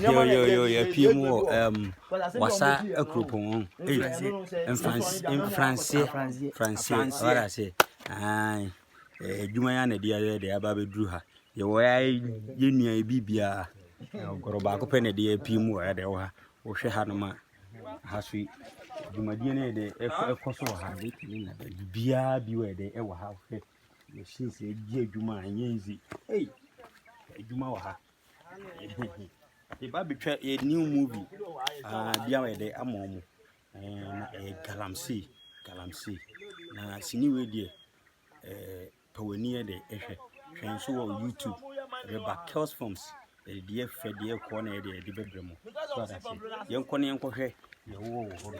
yo yo yo yɛpie mu wɔ um, wasa akuropɔn ho ei mfranseɛ franseɛ what I say ae adwuma yɛ na ɛde ayɛ de aba bɛduru ha yɛwɔ ya yɛ nua yɛ biribiaa ɔgɔrɔ baako pɛ na ɛde apue mu wɔ ha de wɔ ha wohwɛ ha no ma ha so yi dwumadie no yɛ dɛ ɛkɔ so wɔ ha biribiaa bi wɔ yɛ dɛ ɛwɔ ha wohwɛ Machines edi adwuma a ɛnyɛ easy. Ei, adwuma wɔ ha. Yɛba betwa yɛ new movie. Ah, bia wɔyɛ dɛ ama ɔmo. Ɛɛ eh, na ɛyɛ eh, galamsey, galamsey. Na sini wei deɛ, ɛɛ eh, pɛ w'ani yɛ dɛ ɛhwɛ. Hwɛ nso wɔ YouTube. Ɛbɛba Kells Films. Ɛde deɛ fɛ deɛ kɔɔ na ɛde ɛde bɛbrɛ mo. So asase. Yɛnkɔ ne yɛnkɔhwɛ deɛ wowɔ wɔ hɔ no.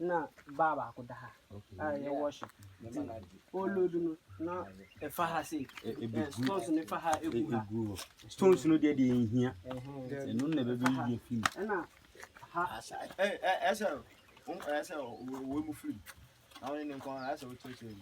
na baa baako da ha a yɛ wɔhyɛ nti ɔlɔdu no na ɛfa ha sei stones no fa ha ɛgu ha stones no deɛ deɛ nhia ɛno na ɛbɛbɛ yie fim ɛna ha ɛsɛ ɛsɛ wɔ mu firi na wɔne ne nkɔn ɛsɛ wɔkyerɛkyerɛ mu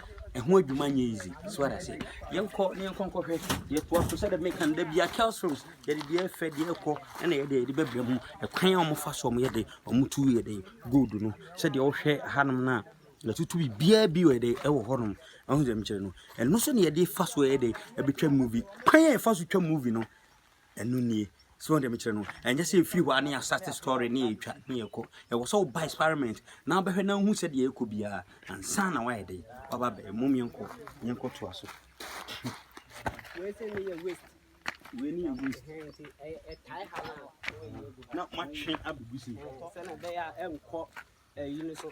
Ɛho adwuma nyɛ easy. So what I say? Yɛnkɔ na yɛnkɔ nkɔhwɛ. Yɛtoa so sɛdeɛ meka no da bia Kells Rooms yɛde deɛ ɛfɛ deɛ ɛkɔ ɛna yɛde yɛde bɛbrɛ mu. Ɛkwan a wɔfa so wɔyɛ de wɔtu yɛ de gold no sɛdeɛ wohwɛ hanom no a yɛtutu biribiara bi wɔ de ɛwɔ hɔnom. Ɛho sɛ mekyerɛ no. Ɛno so na yɛde fa so yɛ de ɛbɛtwa movie. Kwan a yɛfa so twa movie no Ɛno nie. So wɔn deɛ mekyerɛ no, ɛnyɛ sɛ ɛfiri hɔ a ne yɛasate story ne yɛtwa ne yɛkɔ. Ɛwɔ sɛ woba experiment na wobɛhwɛ na wohu sɛdeɛ ɛkɔ biara ansa na woayɛ dɛn waba bɛyɛ. Mom yɛnkɔ yɛnkɔ toa so. Wei sɛ ne yɛ waste. Wei ne yɛ waste. Ɛtae ha na na wɔyɛ gu. Na matwe abubu si. Sɛ na ɛbɛyɛ a ɛnkɔ ɛyi no so.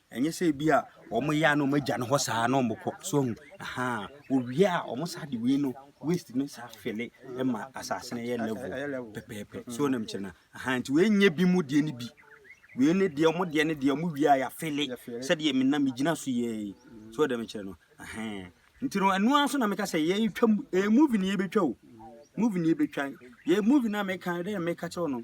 Ɛnyɛ sɛ ebi a wɔn yɛ a na wɔn agya no hɔ saa na wɔn kɔ so ahu ahaa owie a wɔn saa de wei no waste no saa fele ma asase no yɛ level pɛpɛɛpɛ so nam kyerɛ na ahaa nti wei nyɛ bi mu deɛ no bi wei ne deɛ wɔn deɛ ne deɛ wɔn wie a yɛafele sɛdeɛ me nam gyina so yɛ yi so nam kyerɛ no ahaa nti no ɛno ara so na meka sɛ yɛretwa mu ɛyɛ movie ne yɛbɛtwa o movie ne yɛbɛtwa yɛ movie no a meka dɛ meka kyerɛ no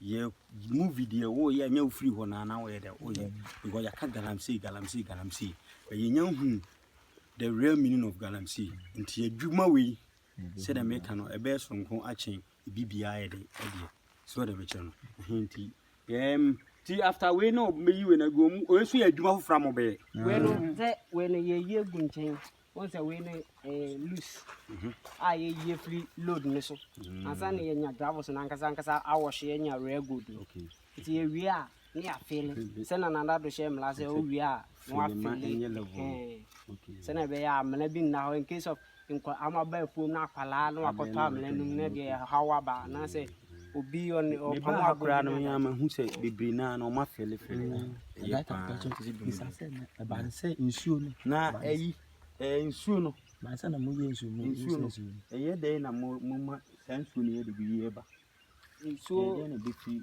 Yɛ movie deɛ woyɛ ɛnyɛ wofiri hɔ na na woyɛ dɛ woyɛ because yɛaka galamsey galamsey galamsey but yɛnya hunu the real meaning of galamsey nti adwuma wei sɛdeɛ meka no ɛbɛyɛ soronko akye ebi biara yɛ de ɛdeɛ so ɛdeɛ mekyerɛ no ɛhe nti yɛm ti after wei na ɔbɛyi wei na gu ɔmu ɔyɛ so yɛ adwuma foforɔ a mɔbɛyɛ wei no sɛ wei no yɛyi agu nkyɛn wɔn sɛ wei no ɛyɛ eh, loose mhm. a yɛyi afiri load no so mm. ansa na yɛnya gravels no ankasa ankasa awɔhye yɛnya rare gold no nti yɛwie a ne yɛafeele sɛ na nada do hyɛ mmara sɛ wowie a na wafeele sɛnea ɛbɛyɛ a mmara bi nna hɔ in case of nkɔ amaba afuom no akwalaa na wakɔtɔ amena no mu na deɛ ɛhaw aba anaasɛ obi ɔne ɔpam ha koraa no yɛn ama hu sɛ bebree naa na ɔma fɛle fɛle ɛyɛ paa ɛbaa sɛ nsuo no na ɛyi ɛɛ nsuo no baasa na mo yɛ nsuo mo nsuo no ɛyɛ dɛn na mo mo ma saa nsuo no yɛ de bi yɛ ba nsuo ɛyɛ dɛn na bi fi.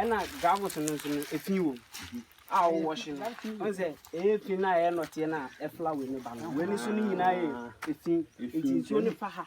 ɛna gravels no nso no efi wɔ mu a wɔwɔhye no ɔn sɛ ɛyɛ fi no a ɛyɛ nɔteɛ no a ɛfla wei ne ba no wei ne so no nyinaa yɛ efi nti nsuo no fa ha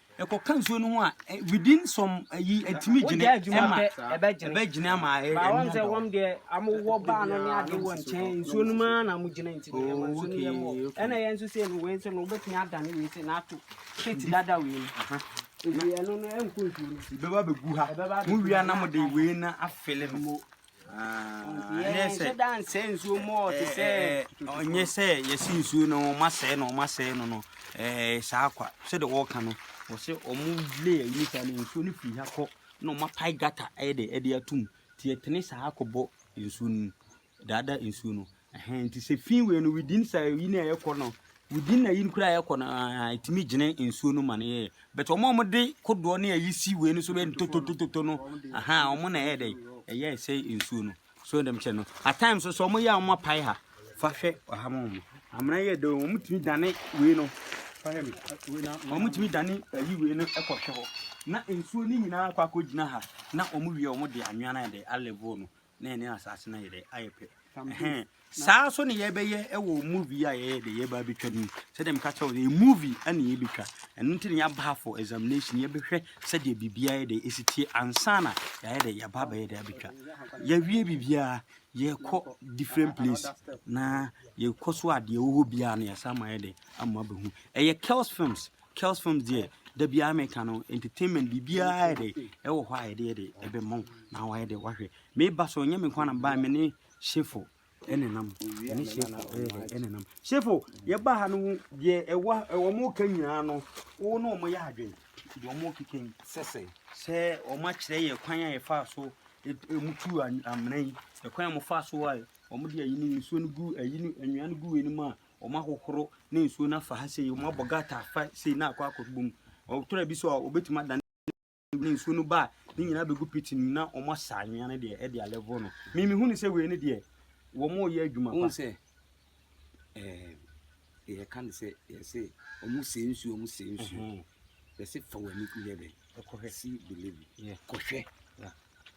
Ɛkɔka nsuo no ho a, within some ayi ɛtumi gyina ɛma ɛbɛgyina ama ɛyɛ ɛnyɛ dɔ. Wɔn deɛ wɔn wɔ baa no ne ade wɔ nkyɛn nsuo no mu ara na wɔn gyina nti ɛma nsuo no yɛ mɔ ɛna yɛn nso sɛ no wei nso no wobɛtumi adane wei sɛ na ato kate dada wei no nti ɛno no ɛnkɔ nsuo no. Bɛba bɛgu ha mo wia na mo de wei na afele no. ɔnyɛ sɛ yɛse nsuo no ɔma sɛe no ɔma sɛe no no saa kwa sɛde wɔka no wɔ sɛ ɔmo lay ayiri saa no nsuo no firi ha kɔ na ɔma pae gata ɛde ɛde atum nti ɛtene saa kɔbɔ nsuo no mu daada nsuo no Ɛhɛn, ntsi sɛ fi wei no within sɛ yi na yɛkɔ no, within na yi no koraa yɛkɔ no aa, etumi gyina nsuo no ma no yɛyɛ. But wɔn a wɔde kodoɔ ne ayi si wei no so bɛ ntototototo no, ahaa, wɔn na ɛyɛ dɛ, ɛyɛ sɛ nsuo no. So dɛm kyɛ no, at times nso wɔn yɛ a wɔn apae ha, fa hwɛ ɔha ma wɔn. Amena yɛ dɛ, wɔn tumi dane wei no, fa hwɛ mi, wɔn tumi dane ayi wei no ɛkɔ hwɛ hɔ. Na nsuo no nyinaa akɔ akɔ gyina ha, na wɔn wie wɔn de anwea no ayɛ dɛ, a level no. na yɛne asase no ayɛ dɛ ayɛ pɛ ɛhɛn saa nso na yɛbɛyɛ wɔ movie a yɛyɛ de yɛba abɛtwa no mu sɛdeɛ meka kyerɛ wo yɛ movie ɛna yɛbɛtwa ɛno nti na yɛaba ha for examination yɛbɛhwɛ sɛdeɛ biribiara yɛ dɛ ɛsi tie ansa na yɛayɛ dɛ yɛaba abɛyɛ dɛ abɛtwa yɛwie biribiara yɛkɔ different place na yɛkɔ so a deɛ ɛwɔ hɔ biara no yɛsan ma yɛ dɛ ama abɛhu ɛyɛ Kells Films Kells films deɛ da biara meka no entertainment biribiara ayɛ dɛ ɛwɔ hɔ a yɛde yɛ dɛ ɛbɛma wo na wayɛ dɛ wahwɛ meba so ɛnyɛ me nko na mebaa me ne shefo ɛne nam ɛne shefo ɛyɛ dɛ ɛne nam shefo yɛba ha no deɛ ɛwɔ ɛwɔ mo ka nyinaa no wo ne wɔn yɛ adwene deɛ wɔn keka yi sɛsɛ sɛ wɔn akyerɛ yɛ kwan a yɛfa so ɛmu tu amena yi ɛkwan a wɔfa so a wɔn de ayi no nsuo no gu ayi no anwia no gu anim a wɔn ahohoro ne nsuo no afa ha sei, wɔn abɔ gata afa sei na akɔ akɔ bom. Ɔtɔrɔ bi so a obetumi adane ne nsuo no ba a ne nyinaa bɛgu pit no na wɔn asa anwea no deɛ ɛde alɛvo no. Mimi hu ne sɛ wei no deɛ wɔn reyɛ adwuma pa. Wɔn sɛ ɛɛ yɛka ne sɛ yɛsɛ wɔn sɛ nsuo wɔn sɛ nsuo yɛsɛ fa wɔn ani yɛ dɛ kɔhwɛ si believe kɔhwɛ.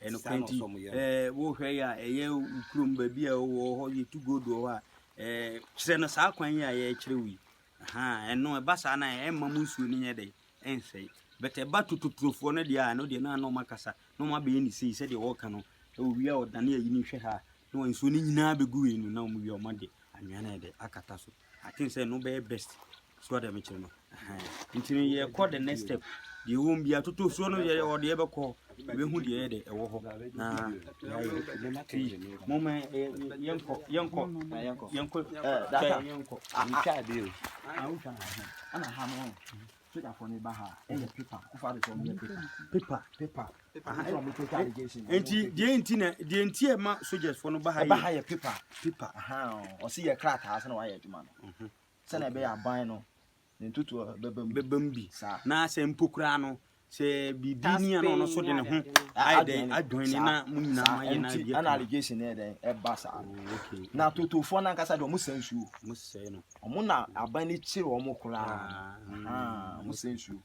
ɛnokorɛ nti ɛɛ wohwɛ yɛ a ɛyɛ kurom baabi a wɔ hɔ yɛtu gold wɔ hɔ a ɛɛ kyerɛ no saa kwan yi a yɛkyerɛ wo yi ɛno ɛba saa na ɛmma mu nsuo no nyɛ dɛ ɛnsɛe but ɛba tototurofoɔ no deɛ a ɛno deɛ na na ɔma kasa na ɔma bɛyɛ ne sei sɛdeɛ wɔka no owie a ɔdane ayi ne hwɛ ha na nsuo no nyinaa bɛgu wei no na ɔmo wie ɔma de anwea no ɛde akata so I think say no be best. So that me chire no. Nti no ye call the next step. Deɛ wɔn bi atoto so no yɛ ɔde yɛ bɛkɔ ebehu deɛ yɛ de ɛwɔ hɔ na ti mo mɛ yɛnkɔ yɛnkɔ yɛnkɔ yɛnkɔ. Ntwa bi o. Ana ha no. Sogyafoɔ no ba ha ɛyɛ pepa ɛfɔ adi sɛ ɔmo yɛ pepa. Pepa pepa. Aha ɛsɛ ɔmo pepa allegation. Nti deɛ nti na deɛ nti ɛma sogyafoɔ no ba ha yɛ. Ɛba ha yɛ pepa pepa aha ɔsi yɛ krataa sɛ na wayɛ adwuma no. Mhm. Sɛ na ɛbɛyɛ aban no ne ntutuo bɛba mu. Bɛba mu bi. Saa. Na sɛ mpo koraa no sɛ biribi ni a na ɔno so de ne ho ayɛ dɛ adwene ne na mo nyinaa ma yɛ na bi. Ɛna allegation yɛ dɛ ɛba saa. Oh, na totofoɔ no ankasa deɛ ɔmo sɛ nsuo. Ɔmo sɛ no. Wɔn na aban no kyere wɔn koraa. Ahaa, wɔn sɛ nsuo.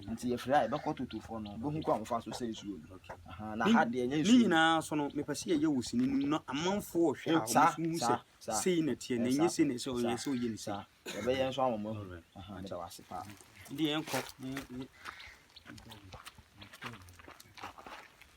Nti yɛfiri ha yɛbɛkɔ totofoɔ no, bɛhu kɔ a wɔfa so sɛ nsuo no. Ahaa, na ha deɛ ɛnyɛ Ne nsuo. nyinaa so no, mepɛ sɛ yɛyɛ wɔ sini no mu na amanfoɔ hwɛ a, Oh, saa, wɔn hu sɛ saa, saa. sei na ɛteɛ, na ɛnyɛ sei na ɛsɛ ɔyɛ sɛ ɔyɛ ne sei. Saa, yɛbɛyɛ nso ama wɔn ahu. Alright. Ahaa, meda wo ase paa. Ɛnde yɛnkɔ.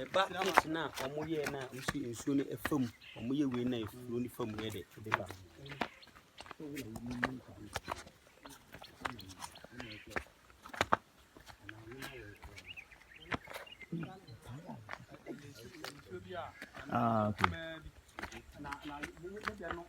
Ɛba pit no a wɔyɛɛ no a wosi nsuo no fa mu, wɔyɛ wei no a nsuo no fa mu yɛ dɛ, ɛde ba. Ah, okay.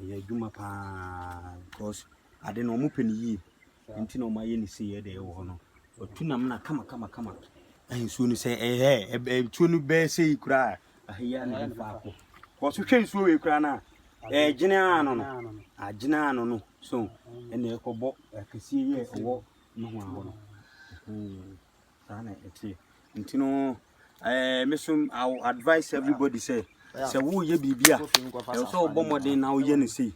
Ɔyɛ adwuma paa because ade no wɔpɛ no yie nti na wɔayɛ no sei ɛde ɛwɔ hɔ no ɔtu nam na kama kama kama nsuo no sɛ ɛyɛ nsuo no bɛyɛ sei koraa ahɛyɛ na ɛyɛ faako because wohwɛ nsuo wei koraa no a ɛgyene ano no agyene ano no so ɛna ɛkɔbɔ akɛseɛ yi a ɛwɔ nohoa hɔ no hmm. saa na ɛteɛ nti no ɛɛ me so I will advise everybody sɛ sɛ woyɛ biribi a ɛwɔ sɛ wobɔ mmɔden na woyɛ no sei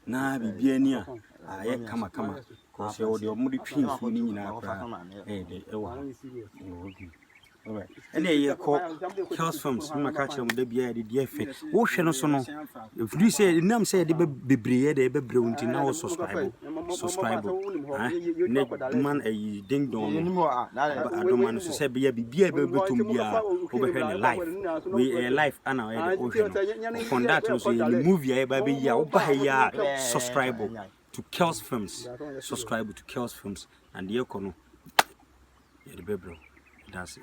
na biribi ani a ayɛ kama kama kɔsɛ wɔde ɔmo de twi nsuo no nyinaa koraa ɛyɛ dɛ ɛwɔ ha ɛwɔ bi ɛna ɛyɛ kɔ health farms na maka kyerɛ mo da biara de deɛ ɛfɛ wohwɛ no so no Ɛfiri sɛ ɛnam sɛ yɛde bebree yɛ dɛ bɛbrɛ wo nti na wo subscribe subscribe ne ma ayi ding dong no adoma no so sɛ bɛyɛ biribi a bɛbɛtɔm biara wobɛhwɛ ne live wei ɛyɛ live ana ɔyɛ dɛ wohwɛ no upon that no so yɛne movie a yɛba bɛyi a woba ha yi a subscribe to Kells Films subscribe to Kells Films na deɛ ɛkɔ no yɛde bɛbrɛ wo that's it